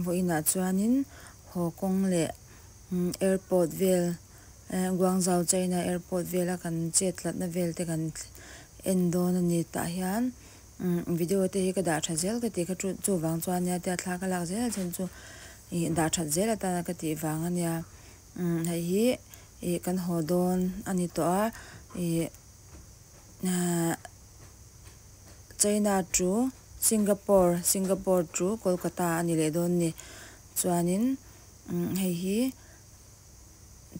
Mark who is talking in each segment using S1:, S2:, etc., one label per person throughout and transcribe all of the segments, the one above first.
S1: Vawi inah chuanin Haw kawng leh airport vel, Guangzhou China airport vela kan chet tlatna vel te kan en dawn a ni. Tah hian video te hi ka dah that zel ka ti kha chu chu vang chuan nia tia thla ka lak zel a then chu ih dah that zel atana ka tih vang a nia. Hei hi ih kan haw dawn a ni tawh a ih China chu. Singapore, Singapore chu Kolkata a ni leh dawn ni. Chuanin hei hi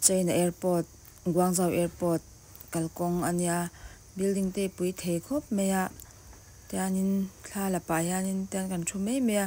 S1: China Airport, Guangzhou Airport kalkawng a nia. Building te i pui thei khawp mai a, tianin thla la pah hianin tian kan thu mai mai a.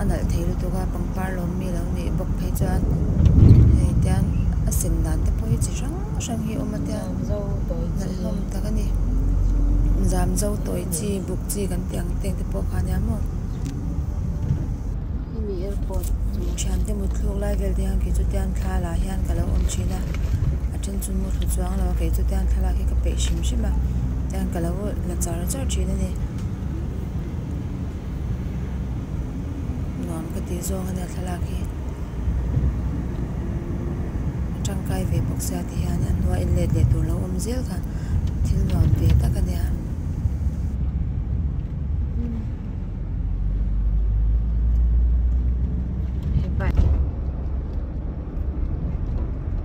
S1: a nalh thei lutuk a pangpar lawm mi lo nih bawk phei chuan hei tian a sen dan te pawh hi chi hrang hrang hi a awm a tian nalh hlawm tak a ni zam zo tawi chi buk chi kan tih ang te te pawh kha nia maw hemi airport thian te mut thluk lai vel te hian kei chu tian thla lah hian ka lo awm thin a a then chu mu thlu chuang lo a kei chu tian thlalak hi ka peih hrim hrim a tian ka lo la char char thin a ni. nuam ka tih zawng a nia thlalak hi a tangkai ve bawk sia ti hian a hnuai in let leh tur lo awm zel kha thil nuam ve tak a nia.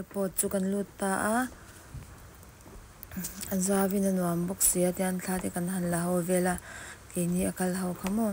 S1: Airport chu kan lut ta a a zau in a nuam bawk si a tian thla te kan han la ho vel a keini a kal ho kha maw.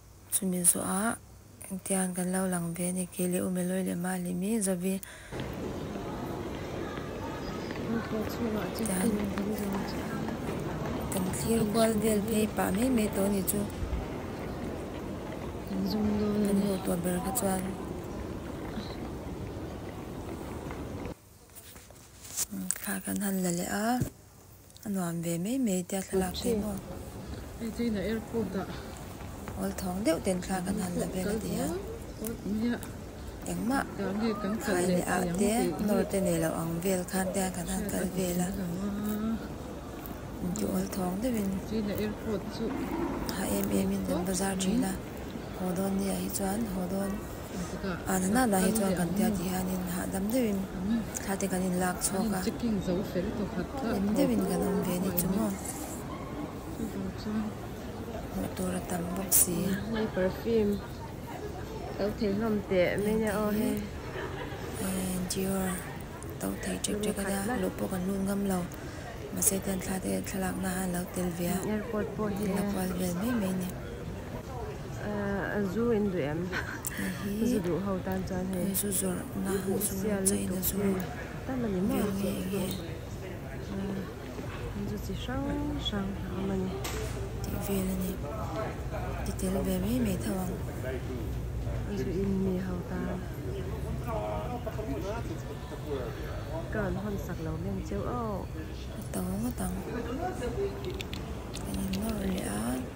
S1: Chumi zawhah engtiang kan lo lang ve a ni. Kei leh ume lawi leh mah leh mi Zavi. Ropua chungah chu tum kan zawm chuan. Kan thlir kual vel phei pah mai mai tawh a ni chu. Kan zawm dawn a ni. Kan hmuh tawh ber kha chuan. Thla kan han la leh a, a nuam ve mai mai tia thlalak te hi maw? Hei chu in a airport ah. Awl thawng deuh ten thla kan han la vel a ti a. Engmah khai leh ah te nawr te nei loh ang vel khan te hian kan han kal vel a. Inti awl thawng deuh in a em em in kan bazar thin a. Haw dawn ni ah hi chuan haw dawn. A nana lah hi chuan kan tia tih hianin hahdam deuhin thla te kan inlak chhuak a hlim deuhin kan awm ve ni chu maw hmuh tur a tam bawk si hei perfume to thei hlawm teh mai nia aw he hei dior to thei chek chek a nia luh pawh kan lut ngam lo mahse tian thla te thlalakna han lo tel ve a a buai vel mai mai a ni. Zu in duh em? Hei hi eizu zawrhna zua cheina zua ber nge eng nge eizu chi hrang hrang a awm a ni tih vel a ni i tel ve mai mai tho ang eizu in mi ho tan ka rawn hawn sak lo mem che au. Ka tho ngat ang kan in nawr leh a.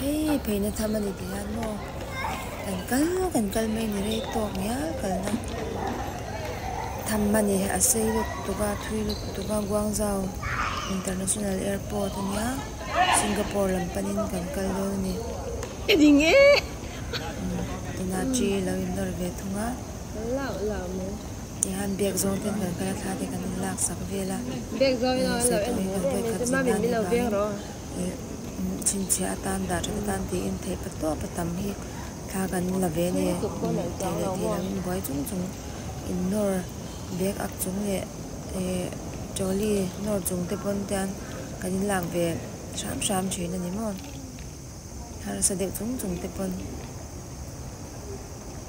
S1: Hei peihna cham a ni tih hian maw kan kal kan kal mai ni rei tawk ni a kalna tham a ni a sei lut tuk a a thui lut tuk a guangzhou international airport a nia singapore lam panin kan kal dawn a ni i ding e tuna chi lo inawr ve thung a. Tihian bag zawng ten kan kal a thla te kan inlak sak vel a, ih saitawngin kan vawi khat zin nan hi vangin ih chhinchhiah atan dah that atan tiin theih pat tawh pa tam hi thla kan la ve nen thei leh thei lovin buai chung chung in nawr bag ak chung leh ih trolley nawr chungte pawn te hian kan inlak ve hram hram thin a ni maw. Hmarsa deuh chung chung te pawn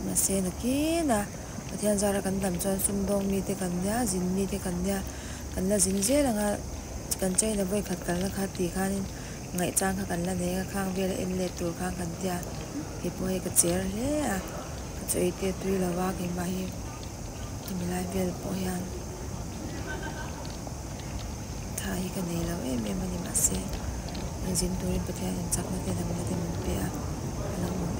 S1: mahse nakin a Pathian zara kan tam chuan sumdawng mi te kan nia zin mi te kan nia kan la zin zel ang a kan China vawi khat kalna kha tih khanin ngaihchang kha kan la nei a khang vel a en let tur khan kan tia kei pawh hei ka cher hle a ka chaw ei tia tui lo a keimah hi hemi lai vel pawh hian. tha hi ka nei lo em em a ni mahse zin turin pathian inchakna te dangte min pe a a lo awm em--